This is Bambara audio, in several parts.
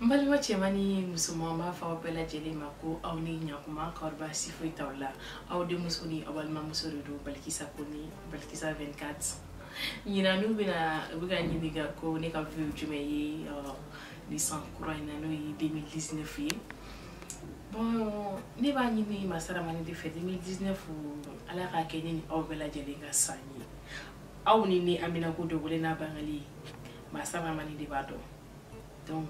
n balima cɛman ni musoman n b'a fɔ aw bɛɛ lajɛlen ma ko aw ni ɲakuma k'aw baasi foyi t'aw la aw denmuso ni aw balimamuso de don balikisa ko ni balikisa 24 ɲinan n'u bɛna u bɛ ka ɲininka ko ne ka vœux jumɛn ye nin san kura in na n'o ye 2019 ye bon ne b'a ɲini masa rahamani de fɛ 2019 ala k'a kɛ ne ni aw bɛɛ lajɛlen ka san ye aw ni ne an haminanko dogolen n'a bangelen masa rahamani de b'a dɔn donc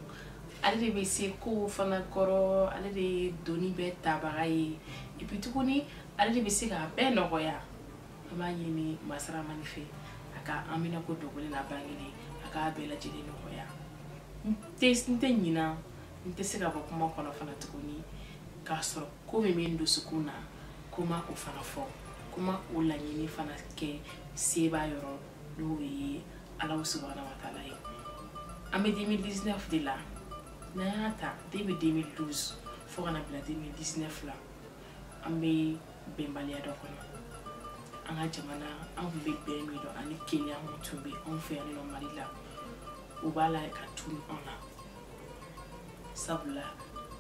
ale de bɛ se kow fana kɔrɔ ale de ye doni bɛɛ tabaga ye et puis tuguni ale de bɛ se k'a bɛɛ nɔgɔya an b'a ɲini masa rahamani fɛ a ka an haminanko dogolen n'a bangelen a k'a bɛɛ lajɛlen nɔgɔya n tɛ n tɛ ɲina n tɛ se ka bɔ kuma kɔnɔ fana tuguni k'a sɔrɔ ko min bɛ n dusukun na ko n ma o fana fɔ ko n ma o laɲini fana kɛ sebaa yɔrɔ n'o ye ala subahana wa taala ye an bɛ 2019 de la n'an y'a ta depuis 2012 fo ka na bila 2019 la an bɛ bɛnbaliya dɔ kɔnɔ an ka jamana an tun bɛ bɛn min dɔn ani kelenya mun tun bɛ anw fɛ yan nɔ mali la o b'a la ka tunu an na sabula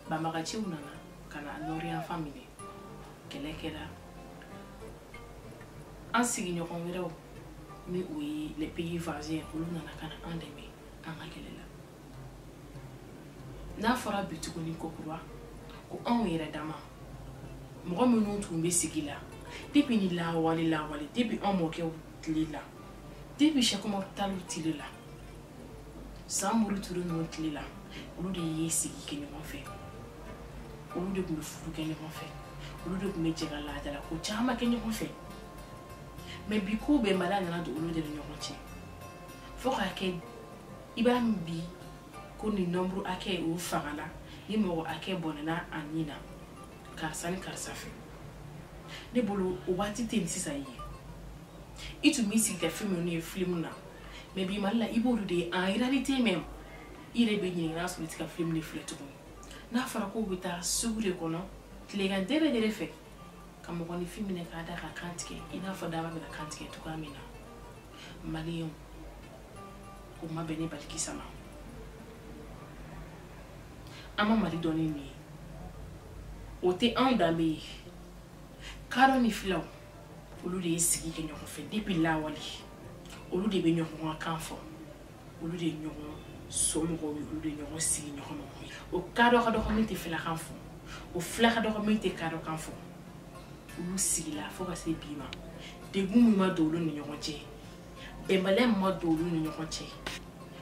banbagaciw nana ka na nord yanfan minɛ kɛlɛ kɛra an sigiɲɔgɔn wɛrɛw ni o ye les pays voisins olu nana ka na an dɛmɛ an ka kɛlɛ la n'a fɔra bi tuguni kokura ko anw yɛrɛ dama mɔgɔ minnu tun bɛ sigi la depuis ni lawale lawale depuis an mɔkɛw tile la depuis seku umaru taliw tile la samori ture ninnu tile la olu de ye sigi kɛ ɲɔgɔn fɛ olu de tun bɛ furu kɛ ɲɔgɔn fɛ olu de tun bɛ jɛ ka laadala ko caman kɛ ɲɔgɔn fɛ mais bi ko bɛnbaliya nana don olu de ni ɲɔgɔn cɛ fo k'a kɛ i b'a mɛn bi ko nin nombre hakɛ o fagala ni mɔgɔ hakɛ bɔnɛna a ni na karisa ni karisa fɛ ne bolo o waati tɛ nin sisan ye i tun b'i sigi ka fɛn minnu ye filimu na mais bi mali la i b'olu de ye en réalité même i yɛrɛ bɛ ɲininka n'a sɔrɔ i tɛ ka filimu de filɛ tuguni n'a fɔra k'o bɛ taa sugu de kɔnɔ tilegan dɛrɛ dɛrɛ fɛ ka mɔgɔninfin minɛ k'a da k'a kan tigɛ i n'a fɔ daaba bɛna kantigɛ cogoya min na maliyɛnw o ma bɛn ne balikisa ma an ma mali dɔn ni nin ye o tɛ anw danbe ye kadɔ ni filaw olu de ye sigi kɛ ɲɔgɔn fɛ depuis lawale olu de bɛ ɲɔgɔn ka kan fɔ olu de ɲɔgɔn somɔgɔw ye olu de ɲɔgɔn sigiɲɔgɔn mɔgɔw ye o kadɔ ka dɔgɔ min tɛ filakan fɔ o fila ka dɔgɔ min tɛ kadɔ kan fɔ olu sigila fo ka se bi ma degun min ma don olu ni ɲɔgɔn cɛ bɛnbaliya min ma don olu ni ɲɔgɔn cɛ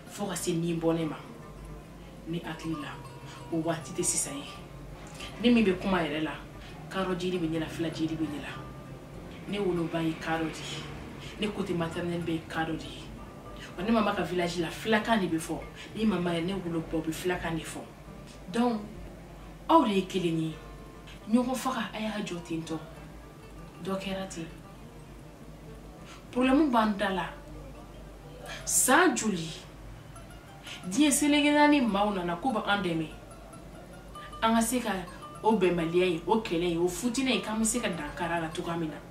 fo ka se nin bɔnɛ ma ne hakili la o waati tɛ sisan ye ne min bɛ kuma yɛrɛ la kadɔ joli bɛ ne la fila joli bɛ ne la ne woloba ye kadɔ de ye ne côté maternel bɛɛ ye kadɔ de ye ɔ ne mama ka village la filakan de bɛ fɔ ne mama yɛrɛ ne woloba o bɛ filakan de fɔ donc aw de ye kelen ye ɲɔgɔn faga a y'a jɔ ten tɔ dɔ kɛra ten problème b'an da la san joli diɲɛ seleke naani maaw nana k'u bɛ an dɛmɛ an ka se ka o bɛnbaliya ye o kɛlɛ ye o fitinɛ ye k'an bɛ se ka dankari a la cogoya min na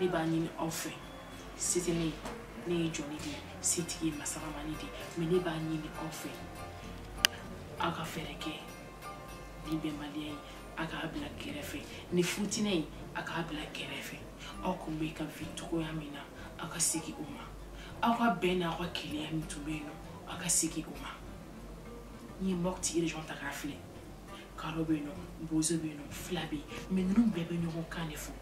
ne b'a ɲini aw fɛ se tɛ ne ye ne ye jɔnnin de ye setigi ye masa rahamani de ye mais ne b'a ɲini aw fɛ aw ka fɛɛrɛ kɛ nin bɛnbaliya ye a k'a bila kɛrɛfɛ nin fitinɛ ye a k'a bila kɛrɛfɛ aw tun bɛ ka vivre cogoya min na aw ka segin o ma aw ka bɛn n'aw ka kelenya min tun bɛ yen nɔ aw ka segin o ma n'i ye mopti région ta k'a filɛ kadɔ bɛ yen nɔ bozo bɛ yen nɔ fila bɛ yen mais ninnu bɛɛ bɛ ɲɔgɔn kan de fɔ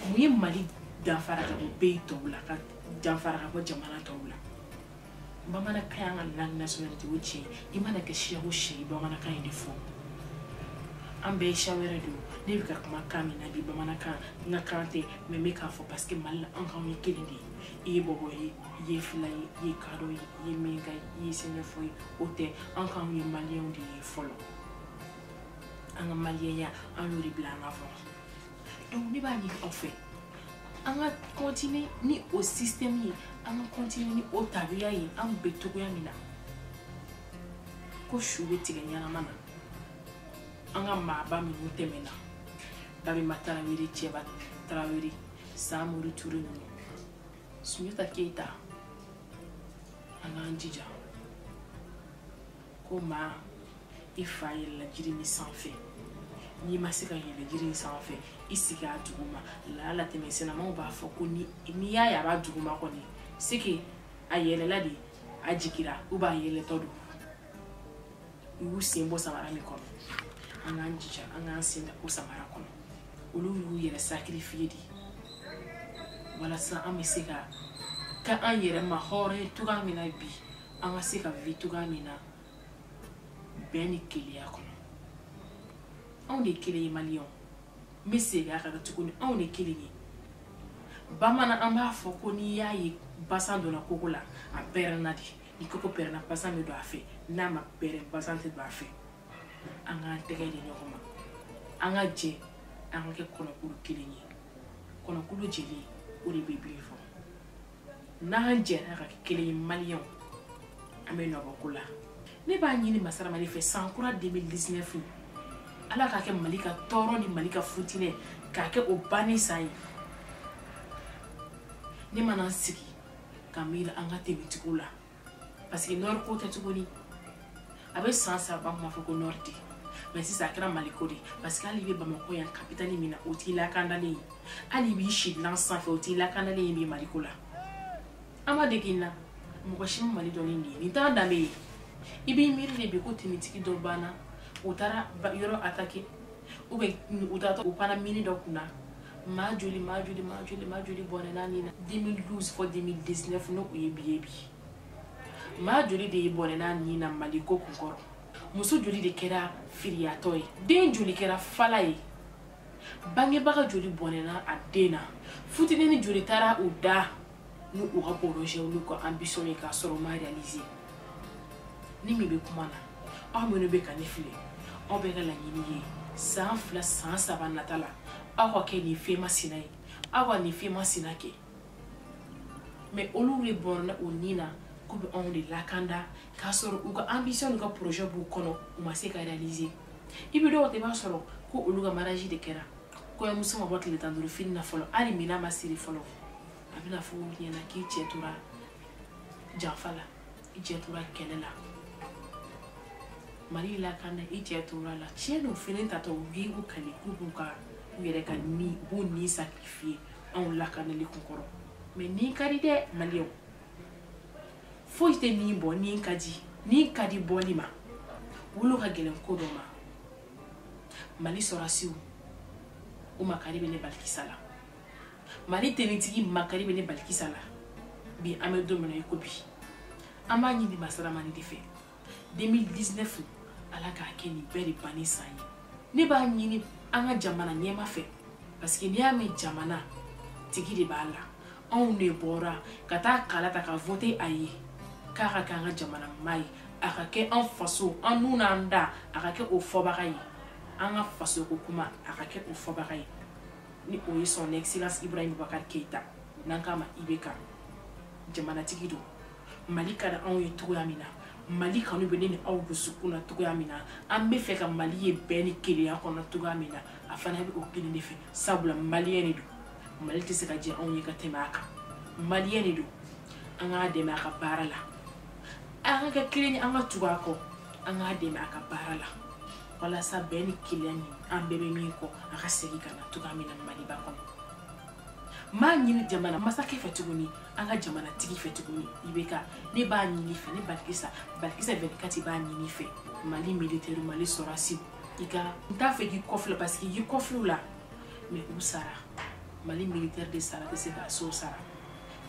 mun ye mali danfara ka bɔ pays tɔw la ka danfara ka bɔ jamana tɔw la bamanankan y'an ka langue nationalité o tiɲɛ i mana kɛ siya o siya ye bamanankan in de fɔ an bɛɛ ye siya wɛrɛ de ye ne bɛ ka kuma kan min na bi bamanankan n ka kan tɛ mais n bɛ k'a fɔ parce que mali la an k'anw ye kelen de ye i ye bɔbɔ ye i ye fila ye i ye kadɔ ye i ye miɲanka ye i ye sɛnɛfɔ ye o tɛ an k'anw ye maliyɛnw de ye fɔlɔ an ka maliyɛnya an y'o de bila an ka fɔ donc ne b'a ɲini aw fɛ an ka continuer ni o système ye an ka continuer ni o tabiya ye an bɛ cogoya min na ko su bɛ tigɛ ɲɛnama na an ka maaba minnu tɛmɛna babɛmba tarawele cɛba tarawele samori ture ninnu sunjata keyita an k'an jija ko maa i fa yɛlɛla jiri min sanfɛ n'i ma se ka yɛlɛ jiri in sanfɛ i sigi a duguma laala tɛmɛsennamaw b'a fɔ ko ni n'i y'a ye a b'a duguma kɔni c'est que a yɛlɛla de a jigira ou bien a yɛlɛtɔ don u y'u sen bɔ samara min kɔnɔ an k'an jija an k'an sen da o samara kɔnɔ olu y'u yɛrɛ sacrifier de walasa an bɛ se ka ka an yɛrɛ mahɔrɔnya cogoya min na bi an ka se ka vi cogoya min na bɛn ni kelenya kɔnɔ anw de kelen ye maliyɛnw n bɛ segin a kan tuguni anw de kelen ye bamanan an b'a fɔ ko n'i y'a ye basan donna koko la a pɛrɛnna de ni koko pɛrɛnna basan bɛ don a fɛ n'a ma pɛrɛn basan tɛ don a fɛ an k'an tɛgɛ di ɲɔgɔn ma an ka jɛ an ka kɛ kɔnɔkulu kelen ye kɔnɔkulu jɛlen o de bɛ bi fɔ n'an jɛra ka kɛ kelen ye maliyɛnw an bɛ nɔ bɔ ko la ne b'a ɲini masa rahamani fɛ san kura 2019 ala k'a kɛ mali ka tɔɔrɔ ni mali ka futinɛ k'a kɛ o banni san ye ne mana n sigi ka miiri an ka tenitigiw la parce que nɔri ko tɛ tuguni a bɛ san saba bɔ an kun b'a fɔ ko nɔri tɛ mɛ sisan a kɛra mali ko de parce que hali i bɛ bamakɔ yan kapitali min na o t'i lakandalen ye hali i b'i si dilan sanfɛ o t'i lakandalen ye bi mali ko la an ma dege na mɔgɔ si ma mali dɔn ni nin ye nin t'a danbe ye i b'i miiri de bi ko tenitigi dɔ banna u taara yɔrɔ atake ou bien u taatɔ u panna mini dɔ kunna maa joli maa joli maa joli maa joli bɔnɛna a ni na 2012 fɔ 2019 n'o ye bi ye bi maa joli de ye bɔnɛna a ni na mali ko kun kɔrɔ muso joli de kɛra firiyatɔ ye den joli kɛra fala ye bangebaga joli bɔnɛna a den na futinini joli taara u da ni u ka porozɛw n'u ka anbisɔn ye k'a sɔrɔ u ma reyalize ne min bɛ kuma na aw minnu bɛ ka ne filɛ aw bɛɛ ka laɲini ye san fila san saba nata la aw ka kɛ nin fɛn masina ye aw ka nin fɛn masina kɛ mɛ olu de bɔnɛna u ni na k'u bɛ anw de lakanda k'a sɔrɔ u ka anbisɔn n'u ka porozɛ b'u kɔnɔ u ma se ka reyalize i bɛ dɔw ta i b'a sɔrɔ ko olu ka mariage de kɛra kɔɲɔmuso ma bɔ tile tan ni duuru fini na fɔlɔ hali minan ma siri fɔlɔ a bɛna fɔ o ɲɛna k'i cɛ tora janfa la i cɛ tora kɛlɛ la mali lakanda i cɛ tora a la tiɲɛ don fini tatɔ u b'u kale k'u b'u ka u yɛrɛ ka ni u b'u ni sacrifier anw lakanali kun kɔrɔ mɛ ni ka di dɛ maliyɛnw foyi tɛ ni bɔ ni ka di ni ka di bɔli ma wolo ka gɛlɛn ko dɔ ma mali sɔrɔsiw o makari bɛ ne balikisa la mali tenitigi makari bɛ ne balikisa la bi an bɛ don min na i ko bi an b'a ɲini masa rahamani de fɛ 2019 ala k'a kɛ nin bɛɛ de banni san ye ne b'a ɲini an ka jamana ɲɛmaa fɛ parce que n'i y'a mɛn jamanatigi de b'a la anw de bɔra ka taa kala ta ka vote a ye k'a ka kɛ an ka jamana maa ye a ka kɛ an faso an n'u n'an da a ka kɛ o fɔbaga ye an ka faso ko kuma a ka kɛ o fɔbaga ye ni o ye son excellence ibrahim bubakar keita n'an k'a ma ibk jamanatigi don mali ka da anw ye cogoya min na mali kanu bɛ ne ni aw dusukun na cogoya min na an bɛ fɛ ka mali ye bɛn ni kelenya kɔnɔ cogoya min na a fana bɛ o kelen de fɛ sabula maliyɛn de don mali tɛ se ka jɛ anw ye ka tɛmɛ a kan maliyɛn de don an k'a dɛmɛ a ka baara la an ka kɛ kelen ye an ka tugu a kɔ an k'a dɛmɛ a ka baara la walasa bɛn ni kelenya ni an bɛɛ bɛ min kɔ a ka segin ka na cogoya min na maliba kɔnɔ n b'a ɲini jamana masakɛ fɛ tuguni an ka jamana tigi fɛ tuguni ibk ne b'a ɲini fɛ ne balikisa balikisa 24 b'a ɲini fɛ mali militaire mali sɔrɔsiw i ka n t'a fɛ k'i kɔfilɛ parce que i kɔfilɛ la mais u sara mali militaire de sara tɛ se ka so sara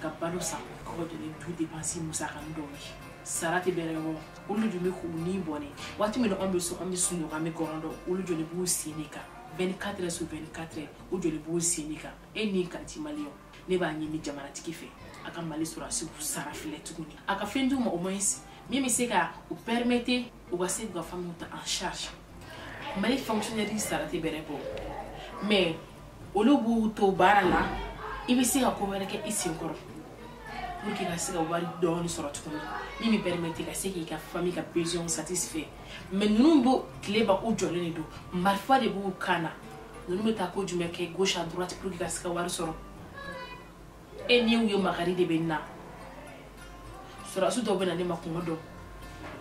ka balo san ka bɔ jɔ ni du dépense musaka nin dɔw ye sara tɛ bɛrɛ yɔrɔ olu de bɛ k'u ni bɔnɛ waati min na anw bɛ so an bɛ sunɔgɔ an bɛ gɔrɔn dɔn olu jɔlen b'u sen de kan 24 heures sur 24 heures u jɔlen b'u sen de kan e ni ka di maliyɛnw ne b'a ɲini jamanatigi fɛ a ka mali sɔrɔdasiw sara filɛ tuguni a ka fɛn d'u ma au moins min bɛ se ka u permettre u ka se k'u ka famille ta en charge mali fonctionnaire sara tɛ bɛrɛ bɔ mais olu b'u to baara la i bɛ se ka ko wɛrɛ kɛ i sen kɔrɔ pour que i ka se ka wari dɔɔni sɔrɔ tuguni min bɛ permettre ka se k'i ka famille ka besoin satisfait mais ninnu bɛ tile ban u jɔlen de don marifa de b'u kan na ninnu bɛ taa ko jumɛn kɛ gauche à droite pour que i ka se ka wari sɔrɔ e ni u ye makari de bɛ na sɔrɔdasi dɔw bɛ na ne ma kungo dɔn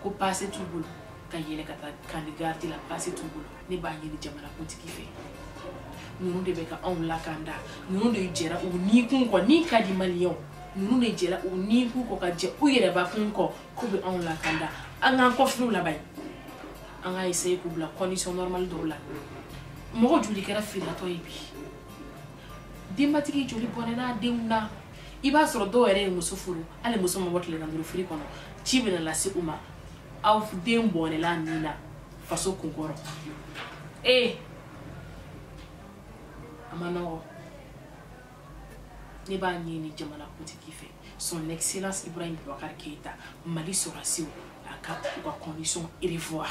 ko paase t'u bolo ka yɛlɛ ka taa camp de garde la paase t'u bolo ne b'a ɲini jamanakuntigi fɛ ninnu de bɛ ka anw lakanda ninnu de jɛra u ni kun kɔ ni ka di maliyɛnw ninnu de jɛra u ni kun kɔ ka jɛ u yɛrɛ ba kun kɔ k'u bɛ anw lakanda an k'an kɔfilɛ u la ban an ka essayer k'u bila condition normale dɔw la mɔgɔ joli kɛra filiyatɔ ye bi denbatigi joli bɔnɛn'a denw na i b'a sɔrɔ dɔw yɛrɛ ye muso furu hali muso ma bɔ tile tan ni duuru firi kɔnɔ ci bɛna lase u ma aw den bɔnɛla a ni na faso kunkɔrɔ ee a ma nɔgɔ ne b'a ɲini jamana kuntigi fɛ son excellence ibrahim bubakar keita mali sɔrɔsiw a ka u ka condition revoir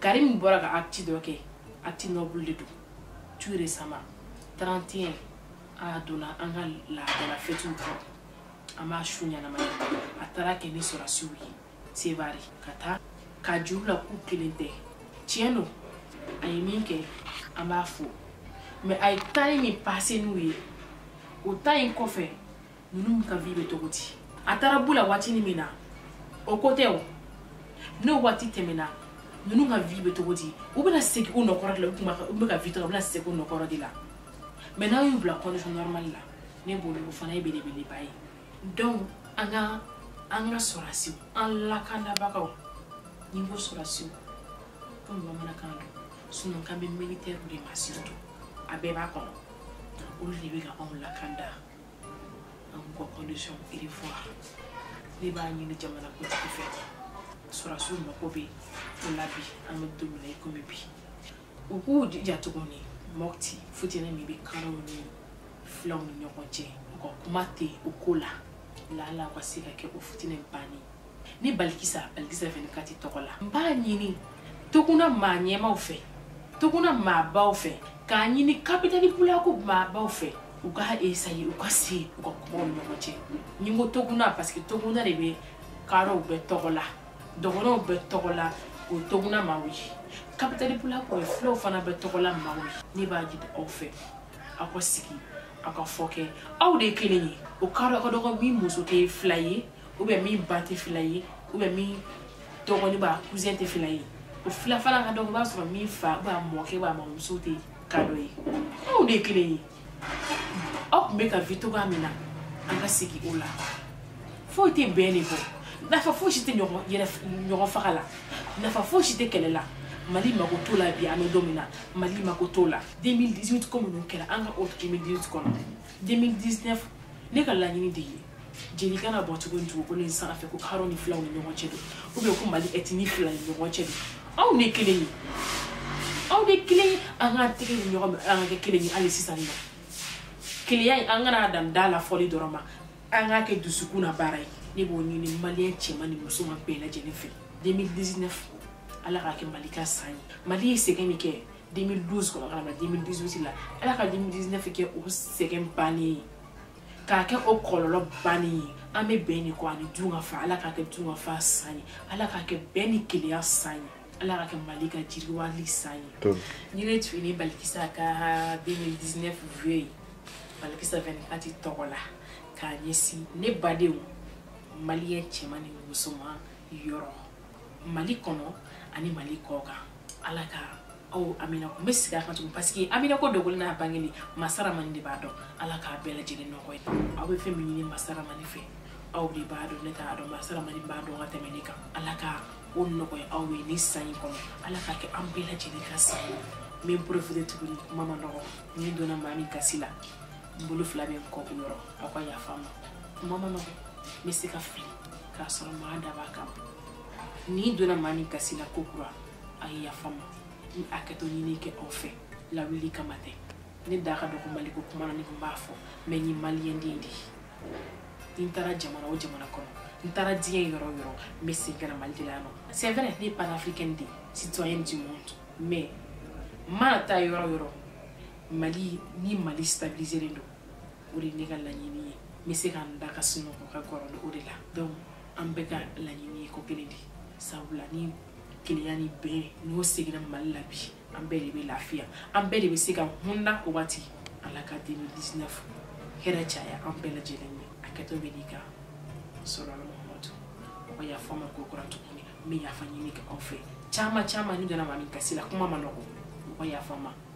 karim bɔra ka acte dɔ kɛ acte noble de don tout récemment 31 a donna an ka laadala fɛtiw kɔrɔ an b'a su ɲɛnamaya a taara kɛ ni sɔrɔsiw ye sevare ka taa k'a jir'u la k'u kelen tɛ tiɲɛ don a ye min kɛ an b'a fo mais a ye temps min passé n'u ye o temps in kɔfɛ ninnu ka vie bɛ cogo di a taara b'u la waatinin min na o ko tɛ o n'o waati tɛmɛna ninnu ka vie bɛ cogo di u bɛna segin u nɔkɔrɔ de la u bɛ ka vie cogo u bɛna segin u nɔkɔrɔ de la mais n'aw y'u bila condition normale la ne bolo o fana ye belebeleba ye donc an ka an ka sɔrɔdasiw an lakanabagaw n'i ko sɔrɔdasiw comme bamanankan don sinon kan bɛ militɛriw de ma surtout a bɛɛ b'a kɔnɔ olu de bɛ ka anw lakanda k'u ka condition revoir ne b'a ɲini jamana kuntigi fɛ sɔrɔsiw mako bɛ o la bi an bɛ don min na i komi bi u k'u jija tuguni mɔti fitinɛ min bɛ karaw ni filaw ni ɲɔgɔn cɛ u ka kuma tɛ o ko la lala o ka se ka kɛ o fitinɛ banni ne balikisa balikisa 24 tɔgɔ la n b'a ɲini toguna maa ɲɛmaaw fɛ toguna maabaw fɛ k'a ɲini tabitali pulaku maabaw fɛ u ka essayer u ka se u ka kuma u ni ɲɔgɔn cɛ n'i ko toguna parce que toguna de bɛ kaaraw bɛɛ tɔgɔ la dɔgɔnɔw bɛɛ tɔgɔ la o toguna maaw ye tabitali pulaku ye filaw fana bɛɛ tɔgɔ la maaw ye ne b'a ɲini aw fɛ aw ka sigi aw ka fɔ kɛ aw de ye kelen ye o kaaraw ka dɔgɔ min muso tɛ fila ye ou bien min ba tɛ fila ye ou bien min dɔgɔnin b'a cousin tɛ fila ye o fila fana ka dɔgɔ i b'a sɔrɔ min fa b'a mɔkɛ b'a mamuso tɛ kaadɔ ye anw de ye kelen ye aw tun bɛ ka vie cogoya min na an ka segin o la foyi tɛ bɛn de bɔ nafa foyi si tɛ ɲɔgɔn yɛrɛ ɲɔgɔn faga la nafa foyi si tɛ kɛlɛ la mali mako t'o la bi an bɛ don min na mali mako t'o la 2018 ko minnu kɛra an ka o 2018 kɔnɔ 2019 ne ka laɲini de ye jeli kana bɔn tuguni dugukolo in sanfɛ ko karaw ni filaw ni ɲɔgɔn cɛ don ou bien ko mali ethnie fila ni ɲɔgɔn cɛ don aw de kelen ye aw de kelen ye an k'an tɛgɛ di ɲɔgɔn ma an ka kɛ kelen ye hali sisan nɔ keleya in an kana dan da la fɔli dɔrɔn ma an k'a kɛ dusukun na baara ye ne b'o ɲini maliyɛn cɛman ni musoman bɛɛ lajɛlen fɛ 2019 ala k'a kɛ mali ka san ye mali ye sɛgɛn min kɛ 2012 kɔnɔ ka na 2018 la ala ka 2019 kɛ o sɛgɛn bannen ye k'a kɛ o kɔlɔlɔ bannen ye an bɛ bɛn de kɔ ani dunkafa ala k'a kɛ dunkafa san ye ala k'a kɛ bɛn ni keleya san ye ala k'a kɛ mali ka jiriwali san ye nin de tun ye ne balikisa ka 2019 vœu ye balikisa 24 tɔgɔ la k'a ɲɛsin ne badenw maliyɛn cɛman ni musoman yɔrɔ mali kɔnɔ ani mali kɔ kan ala ka aw amina ko n bɛ segin a kan tugun paseke amina ko dogolen n'a bangelen masa rahamani de b'a dɔn ala k'a bɛɛ lajɛlen nɔgɔya aw bɛ fɛn min ɲini masa rahamani fɛ aw de b'a dɔn ne t'a dɔn masa rahamani b'a dɔn ka tɛmɛ ne kan ala ka o nɔgɔya aw ye nin san in kɔnɔ ala k'a kɛ an bɛɛ lajɛlen ka san ye n bɛ n profiter tuguni kuma ma nɔgɔ ni n donna maa min gasi la n bolo fila bɛ n kɔ o yɔrɔ aw ka yafa n ma kuma ma nɔgɔ n bɛ se ka fili k'a sɔrɔ n m'a dab'a kama ni n donna maa min gasi la ko kura a ye yafa n ma n ye hakɛto ɲini kɛ aw fɛ lawuli kama tɛ ne da ka dɔgɔ mali ko kuma na ne tun b'a fɔ mais n ye maliyɛnden de ye n taara jamana o jamana kɔnɔ n taara diɲɛ yɔrɔ o yɔrɔ n bɛ segin ka na mali de la yan non c'est vrai ne ye panafricaine de ye citoyenne du monde mais n mana taa yɔrɔ o yɔrɔ mali ni mali stabiliserlen don o de ye ne ka laɲini ye n bɛ se ka n da ka sunɔgɔ ka kɔrɔ ni o de la donc an bɛɛ ka laɲini ye ko kelen de sabula ni kelenya ni bɛn n'o seginna mali la bi an bɛɛ de bɛ lafiya an bɛɛ de bɛ se ka hunda o waati ala ka 2019 hɛrɛ caya an bɛɛ lajɛlen ye hakɛto bɛ n'i kan sali ala mahamadu aw ka yafa n ma ko kura tuguni n bɛ yafa ɲini kɛ aw fɛ caman caman ni n donna maa min gasi la kuma ma nɔgɔ aw ka yafa n ma